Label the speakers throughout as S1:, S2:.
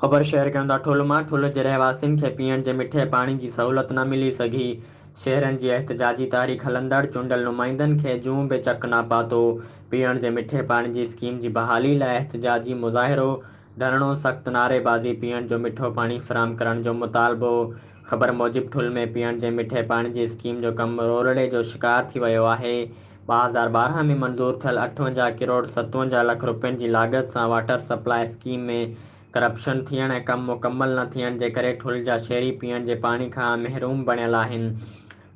S1: خبر شيئر ڪيون ٿا ٺل مان ٺل جي رهواسين کي پيئڻ جي مٺي پاڻي جي سهولت نه ملي سگهي، شهرين جي احتجاجي تحريڪ هلندڙ چونڊيل نمائندن کي جون به چڪ نه پاتو، پيئڻ جي مٺي پاڻي جي اسڪيم جي بحالي لاء احتجاجي مظاهرو، ڌرڻو، سخت نعري بازي پيئڻ جو مٺو پاڻي فراهم ڪرڻ جو مطالبو، خبر موجب ٺل ۾ پيئڻ جي مٺي پاڻي جي اسڪيم جو ڪم رولڙي جو شڪار ٿي ويو آهي، ٻه هزار ٻارهن ۾ منظور ٿيل اٺونجاهه ڪروڙ ستونجاهه لک رپين جي لاڳت سان واٽر سپلاء اسڪيم ۾ ڪرپشن ٿيڻ ۽ ڪم مڪمل نه ٿيڻ جي ڪري ٺل جا شهري پيئڻ جي پاڻي کان محروم بڻيل آهن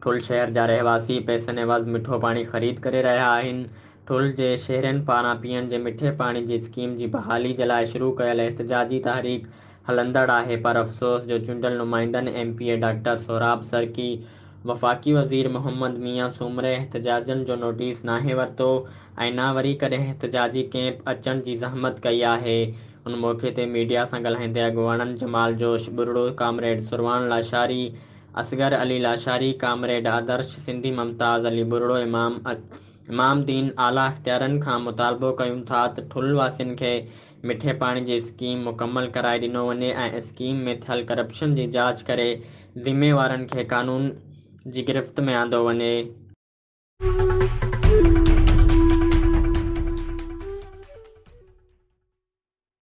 S1: ٺل شهر جا رهواسي پئسن عوض مٺو پاڻي خريد ڪري رهيا آهن ٺل جي شهرين پاران پيئڻ جي مٺي پاڻي جي اسڪيم جي بحالي جي لاء شروع ڪيل احتجاجي تحريڪ هلندڙ آهي پر افسوس جو چونڊيل نمائندن M P A doctor Sohrab Sarki, وفاقي وزير محمد ميان سومري احتجاجين جو نوٽيس ناهي ورتو ۽ نه وري ڪڏهن احتجاجي ڪئمپ اچڻ جي زحمت ڪئي آهي. ان موقعي تي ميڊيا سان ڳالهائيندي اڳواڻن جمال جوش ٻرڙو، ڪامريڊ سرواڻ لاشاري، اصغر علي لاشاري، ڪامريڊ آدرش سنڌي ممتاز علي ٻرڙو امام امام دين اعليٰ اختيارين کان مطالبو ڪيون ٿا ته ٺل واسين کي مٺي پاڻي جي اسڪيم مڪمل ڪرائي ڏنو وڃي ۽ اسڪيم ۾ ٿيل ڪرپشن جي جاچ ڪري ذميوارن کي قانون جي گرفت ۾ آندو وڃي.